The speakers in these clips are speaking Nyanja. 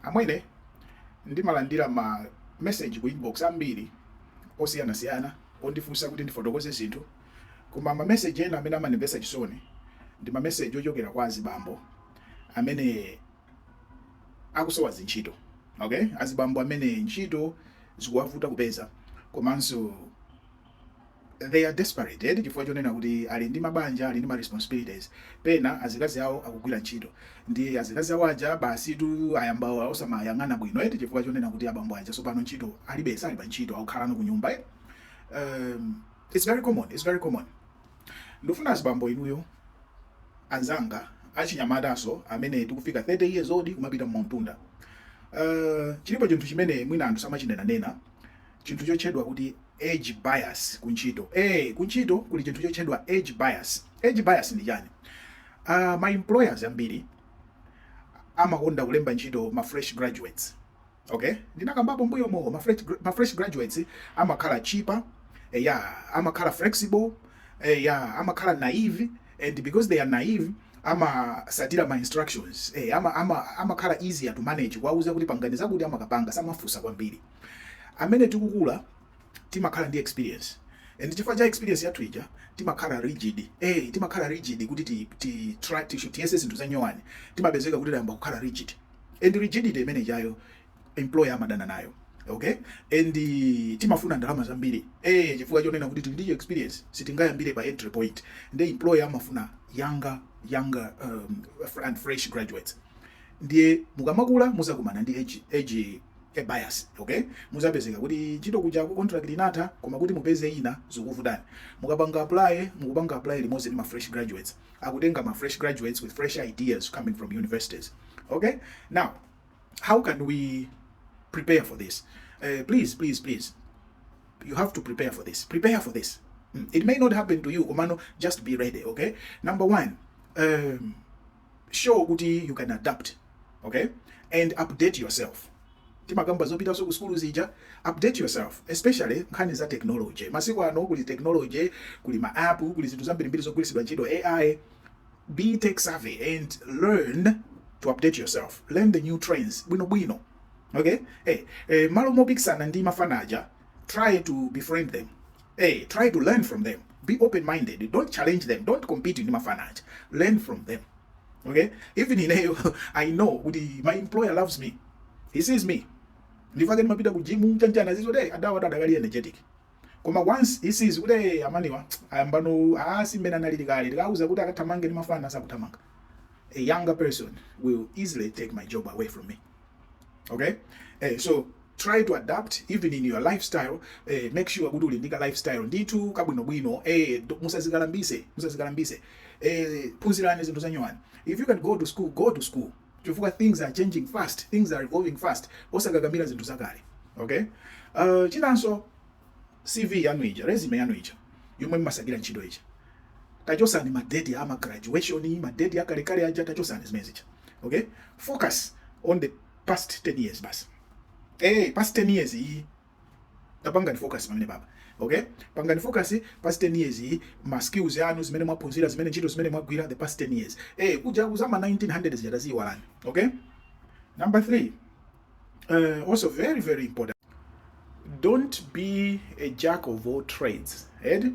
Amwene ndimalandira ma message ku inbox ambiri osiyanasiyana ondifunsa kuti ndifotokoze zinthu koma ma message ena amene amandimvetsa chisoni ndi ma message ochokera kwa azibambo amene akusowa zintchito okay, azibambo amene ntchito zikuwavuta kupeza komanso They are desperated chifukwa chonena kuti ali ndi mabanja, ali ndi ma responsibilities, pena azikazi awo akugwira ntchito. Ndiye azikazi awo aja basitu ayamba osawayang'ana bwino eti chifukwa chonena kuti abambo aja tsopano ntchito alibe, sali pa ntchito, akukhalano ku nyumba eti. Um, it's very common, it's very common. Ndifuna azibambo inuyo anzanga achinyamataso amene tikufika 30 years old kumapita m'mwambamu. Uh, chilipo chinthu chimene mwina anthu samachinenanena chinthu chotchedwa kuti age bias kuntchito. Ee, kuntchito kuli chinthu chotchedwa age bias. Age bias ndi chani? Uh, ma employers ambiri amakonda kulemba ntchito ma fresh graduates. Okay? Ndinakambapo mbuyomu ma fresh, ma fresh graduates amakhala cheaper, eh, yeah, amakhala flexible, eh, yeah, amakhala naive and because they are naive amatsatira ma instructions eh, ama, ama, amakhala easier to manage kuwauza kuti pangani zakuti amakapanga samafunsa kwambiri Amene tikukula timakhala ndi experience and chifukwa cha experience yathu ija timakhala rigid eh, timakhala rigid kuti ti, ti, tiyese zinthu zanyowani timapezeka kuti tayamba kukhala rigid and rigidity imene ijayo employer amadana nayo okay and uh, timafuna ndalama zambiri eh chifukwa chonena kuti tili ndi experience sitingayambire pa entry point ndiye employer amafuna younger younger um, and fresh graduates ndiye mukamakula muzakumana ndi age, age age bias okay muzapezeka kuti ntchito kuja ku contract inatha koma kuti mupeze ina zikuvutani mukapanga apply mukupanga apply limodzi ndi ma fresh graduates akutenga ma fresh graduates with fresh ideas coming from universities okay now how can we prepare for this uh, please please please you have to prepare for this prepare for this mm. it may not happen to you komano just be ready okay number one um, show kuti you can adapt okay and update yourself timakamba zopitanso ku sukulu zija update yourself especially nkhani za technology masiku ano kuli technology kuli ma app kuli zinthu zambirimbiri zogwiritsidwa ntchito ai be tech savvy and learn to update yourself learn the new trends bwinobwino okay hey, eh, malo mopikisana ndi mafana aja try to befriend them hey, try to learn from them be open minded don't challenge them don't compete ndi mafana aja learn from them okay even ineyo i know kuti my employer loves me he sees me ndi fit ndimapita ku jimu chanichani izo adawa adakali energetic koma once he sees kuti hey, amanwa ayambano asthma pena ah, analili kale tikauza kuti akathamange ndi mafana sakuthamanga a younger person will easily take my job away from me okay eh, so try to adapt even in your lifestyle eh, make sure kuti uli ndi ka lifestyle ndithu kabwinobwino eh, do- musazikalambise musazikalambise eh, phunzirani zinthu zanyowani if you can go to school go to school chifukwa things are changing fast things are evolving fast osakakamira zinthu zakale okay uh, chinanso CV yanu ija, resume yanu ija yomwe mmasakira ntchito ija. Tachosani ma date a ma graduation, ma date a kale kale aja tachosani zimene zija. Okay? Focus on the past 10 years basi. Eh, past 10 years iyi tapangani focus pamenepapa. Okay? Pangani focus past 10 years iyi ma skills yanu zimene mwaphunzira zimene ntchito zimene mwagwira the past 10 years. Eh, kuja kwa za ma 1900 zija taziwalani. Okay? Number 3. uh, also very very important don't be a jack of all trades edi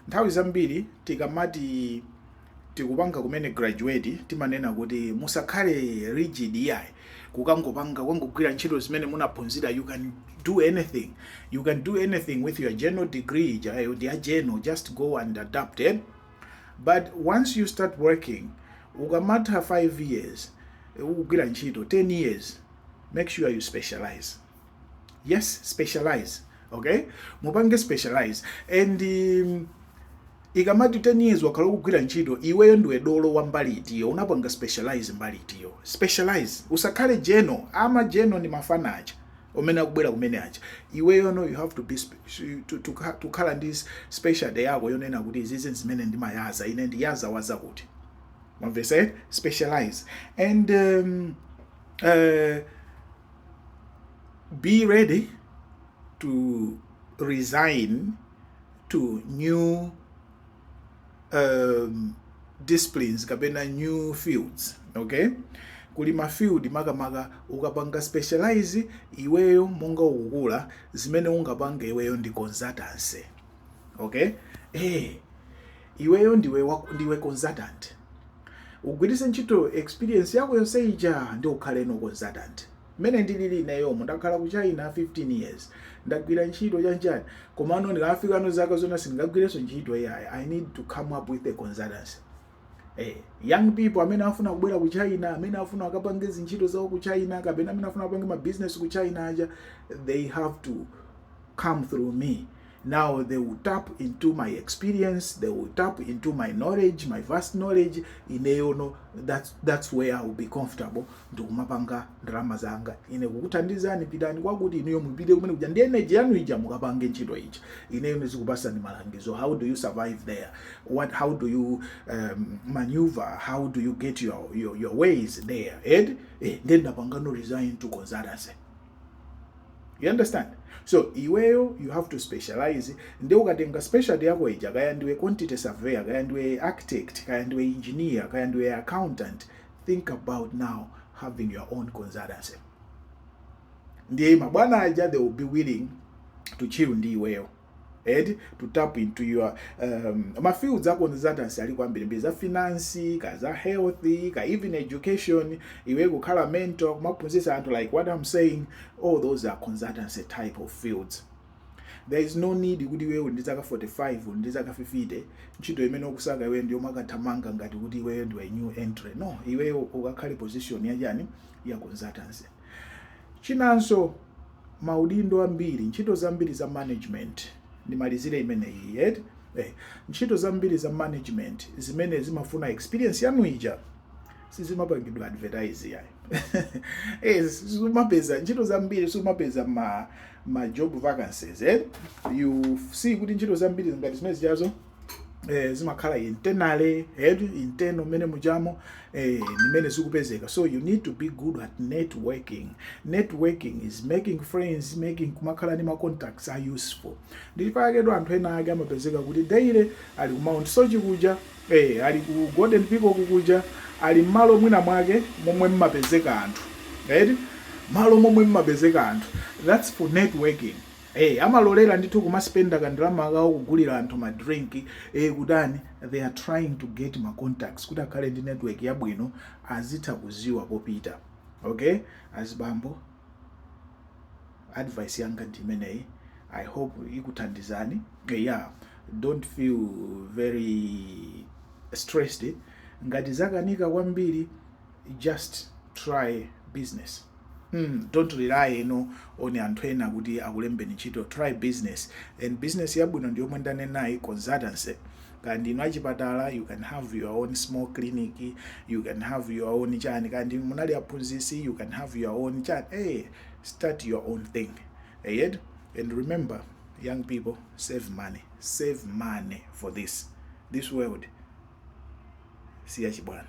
nthawi zambiri tikamati tikupanga kumene graduate timanena kuti musakhale rigid iyayi kukangopanga kungogwira ntchito zimene munaphunzira you can do anything you can do anything with your general degree your general just go and adapt it eh? but once you start working ukamatha 5 years eh, ukugwira ntchito 10 years make sure you specialize yes specialize okay mupange specialize and um, ikamati 10 years wakhala ukugwira ntchito iweyo ndiwe dolo wa mbali itiyo unapanga specialize mbali itiyo specialize usakhale general ama general ndi mafana aja omene akubwera kumene aja iweyo no you have to be ukhale ndi specialty yako yonena kuti izizi zimene ndimayaza ine ndi za zakuti mwamvetsa eh? specialize and um, uh, be ready to resign to new um, disciplines kapena new fields okay kuli mafield makamaka ukapanga specialize iweyo monga ukukula zimene ungapange iweyo ndi consultancy okay eh iweyo ndiwe ndiwe consultant ugwiritse ntchito experience yako yonse ija ndi ukhaleno consultant Mmene ndilili ineyomo ndakhala ku China 15 years ndagwira ntchito chanchani komano ndikafikano zaka zinazi sindingagwirenso ntchito iyayi I need to come up with a consultancy eh, young people amene afuna kubwera ku China amene afuna akapange zintchito zawo ku China kapena amene afuna akapange ma business ku China aja they have to come through me Now they will tap into my experience, they will tap into my knowledge, my vast knowledge. Ineyono, that's, that's where I will be comfortable. Ndikumapanga ndalama zanga. Ine kukuthandizani pitani kwakuti inuyo mupite kumene kuja ndi energy yanu ija mukapange ntchito ija. Ineyo ndizikupasani malangizo. How do you survive there? What, how do you um, maneuver? How do you get your, your, your ways there? And eh, then ndapangano resign to consultancy. you understand so iweyo you have to specialize nde ukatenga specialty yako ija kaya ndiwe quantity surveyor kaya ndiwe architect kaya ndiwe engineer kaya ndiwe accountant think about now having your own consultancy ndiye mabwana aja they will be willing to chill ndi iweyo and to tap into your um, mafields a consultancy alipo ambirimbiri za finance ka za health ka even education iwe kukhala mentor kumaphunzitsa anthu like what i'm saying all those are consultancy type of fields there is no need kuti iweyo uli ndi zaka 45 uli ndi zaka 50 ntchito imene ukusaka iweyo ndiyo yomakathamanga ngati kuti iweyo ndiwe new entry no iweyo ukakhale position yachani ya consultancy Chinanso, maudindo ambiri, ntchito zambiri za management, ndimalizire imeneyi eti, eh, ntchito zambiri za management zimene zimafuna experience yanu ija sizimapangidwa advertise yayi eh, sumapeza ntchito zambiri sumapeza ma ma job vacancies eh? you see kuti ntchito zambiri ngati zimene zijazo eh, zimakhala internal eh internal mene mujamo eh, ni mmene zikupezeka so you need to be good at networking networking is making friends making kumakhala ni macontacts a useful ndi chifukwa chake anthu ena ake amapezeka kuti daily ali ku mount soche kuja eh, ali ku golden peacock kuja ali mmalo mwina mwake momwe mmapezeka anthu right malo momwe mmapezeka anthu that's for networking ee amalolera ndithu kumaspenda kandalama kawo kugulira anthu ma drink ee kutani they are trying to get ma contacts kuti akhale ndi network yabwino azitha kuziwa popita okay azibambo advice yanga ndi imeneyi i hope ikuthandizani yeah don't feel very stressed ngati zakanika kwambiri just try business Mm, don't rely you know, on anthu ena kuti akulembeni ntchito try business and business yabwino ndi yomwe ndanenayi consultancy kandi ino achipatala you can have your own small clinic you can have your own chani kandi munali aphunzisi you can have your own chani hey, eh, start your own thing yet and remember young people save money save money for this this world siyachibwana